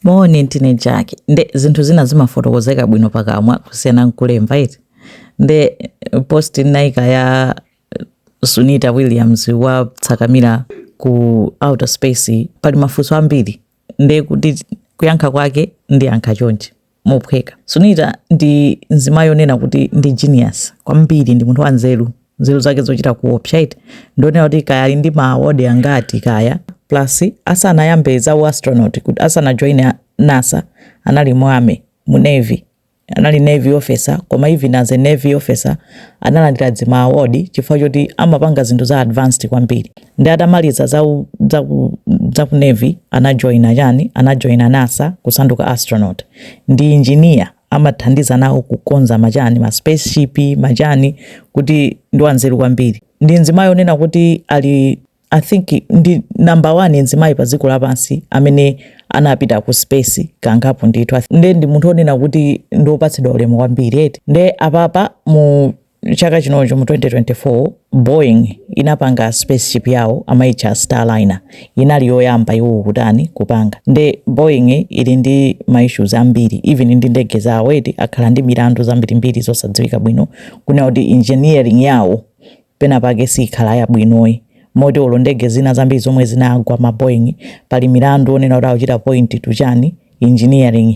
Moni ndine Jack nde zinthu zina zimafotokozeka bwino pakamwa kusiyana nkulemba eti nde post ndinaika ya Sunita Williams watsakamira ku outer space pali mafunso ambiri nde kuti kuyankha kwake ndiyankha chonchi mophweka. Sunita ndi nzimayi yonena kuti ndi genius kwambiri ndi munthu wanzeru nzeru zake zochita kuopsa eti ndionera kuti kaya ali ndi ma award angati kaya plus asanayambe za u astronaut kuti asanajoine nasa anali mu army mu navy anali navy officer koma even as a navy officer analandira dzima award chifukwa choti amapanga zinthu za advanced kwambiri ndi atamaliza za u- za ku- za ku navy anajoina chani anajoina nasa kusanduka astronaut ndi engineer amathandiza nawo kukonza machani ma spaceship machani kuti ndi wanzeru kwambiri ndi mzimayi onena kuti ali i think ndi number one mzimayi pa dziko lapansi amene anapita ku space kangapo ndithu nde ndi munthu onena kuti ndiopatsidwa ulemu kwambiri eti nde apapa mu chaka chinochi mu 2024 boeing inapanga spaceship yawo amaitcha starliner inali yoyamba iwowo kutani kupanga nde boeing ili ndi ma issues ambiri even ndi ndege zawo eti akhala ndi milandu zambirimbiri zosadziwika bwino kunena kuti engineering yawo pena pake sikhala yabwinoyi moti olo ndege zina zambiri zomwe zinagwa ma boeing pali milandu onena kuti akuchita point to chani engineering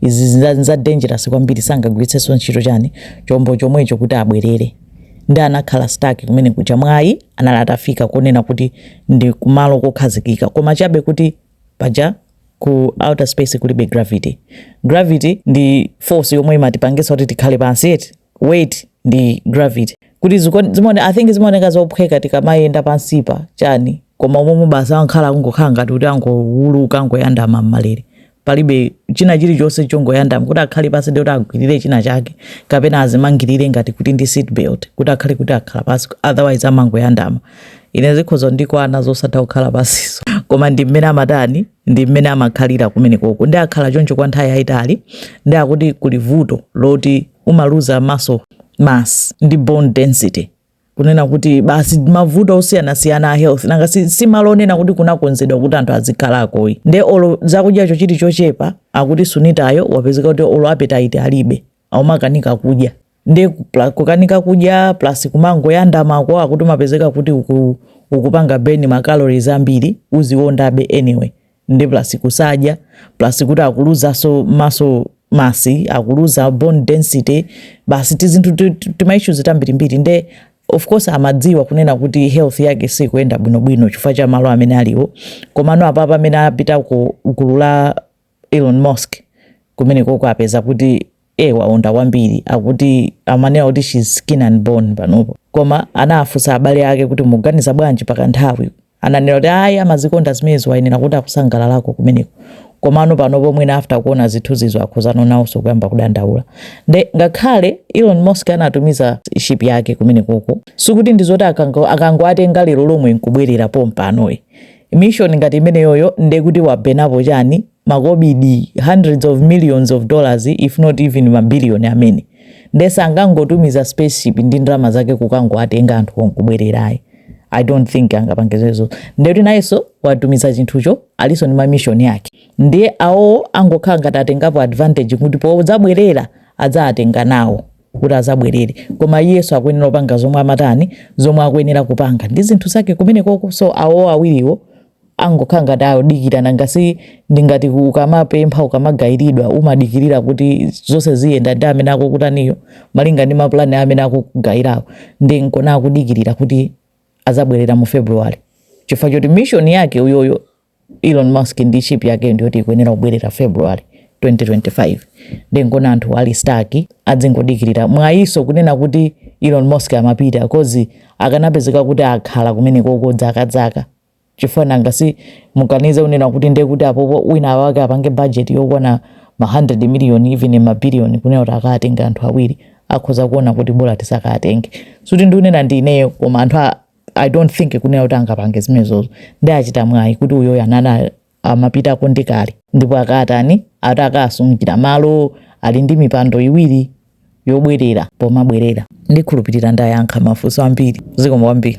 izi za, za dangerous kwambiri sangagwiritsenso ntchito chani chombo chomwecho kuti abwerere ndi anakhala stuck kumene kuja mwayi anali atafika kunena kuti ndi kumalo kokhazikika koma chabe kuti paja ku outer space kulibe gravity gravity ndi force yomwe imatipangisa kuti tikhale pansi eti weight ndi gravity kuti zimone i think zimaoneka zophweka tikamayenda pansipa chani koma umomo basi ankhala kungokhala ngati kuti angowuluka angoyandama m'malere palibe china chilichonse chongoyandama kuti akhale pasi ndi kuti agwirire china chake kapena azimangirire ngati kuti ndi seat belt kuti akhale kuti akhala pasi otherwise amangoyandama ine zikhozo ndikwana zosatha kukhala pasiso koma ndi mmene amatani ndi mmene amakhalira kumenekoko ndi akhala choncho kwa nthawi yayitali ndi akuti kuli vuto loti umaluza muscle mass ndi bone density kunena kuti basi mavuto osiyanasiyana a health nanga si, si malo onena kuti kunakonzedwa kuti anthu azikhalakoyi nde olo zakudyacho chili chochepa akuti sunitayo wapezeka kuti olo appetite alibe akumakanika kudya ndi kupla- kukanika kudya plus kumangoyandamako akuti umapezeka kuti uku, ukupanga burn ma calories ambiri uziondabe anyway ndi plus kusadya plus kuti akuluzanso muscle mass akuluza bone density basi tizinthu ti- ti- timaissues tambirimbiri nde of course amadziwa kunena kuti health yake sikuyenda bwinobwino chifukwa cha malo amene aliwo komano apapa amene apita ku gulu la Elon Musk kumenekoko apeza kuti eh waonda kwambiri akuti amanena kuti she's skin and bone panopo koma anafunsa abale ake kuti muganiza bwanji pa kanthawi ananena kuti ayi amazikonda zimenezo ayenera kuti akusangalalako kumeneko komano panopo mwina after kuona zithunzizo akhuzidwa nawonso kuyamba kudandaula nde ngakhale Elon Musk anatumiza ship yake kumenekoko sikuti ndizoti akango akangoatenga lero lomwe nkubwerera pompanoyi mission ngati imeneyoyo ndekuti wabenapo chani makobidi hundreds of millions of dollars if not even mabiliyoni amene nde sangangotumiza spaceship ndi ndalama zake kukangoatenga anthu nkubwerera ayi i don't think angapange zimenezo ndekuti nayenso watumiza chinthucho alinso ndi mamishoni ake ndiye awo angokhala ngati atengapo advantage kuti podzabwerera adzaatenge nawo kuti azabwerere koma iyeso akuyenera kupanga zomwe amatani zomwe akuyenera kupanga ndi zinthu zake kumene koko so awo awiriwo angokhala ngati adikira nanga si ndingati ukamapempha ukamagayiridwa umadikirira kuti zonse ziyenda ndi amene akukutaniyo malinga ndi mapulani a amene akukugayirawo ndi nkona akudikirira kuti azabwerera mu february chifukwa choti mission yake uyoyo Elon Musk ndi ship yakeyo ndiyoti ikuyenera kubwerera February 2025 nde nkona anthu ali stuck adzingodikirira mwayiso kunena kuti Elon Musk amapita cause akanapezeka kuti akhala kumenekoko dzaka dzaka chifukwa nanga si muganize kunena kuti nde kuti apopo wina wake apange budget yokwana ma 100 million even ma billion kunena kuti akaatenge anthu awiri akhoza kuona kuti bora tisakaatenge sikuti ndikunena ndi ineyo koma anthu a i don't think kunena kuti angapange zimenezozo nde achita mwayi kuti uyoyo anali amapitako ndi kale ndipo akatani akaasungira malo ali ndi mipando iwiri yobwerera pomabwerera ndikhulupirira ndayankha mafunso ambiri zikomo kwambiri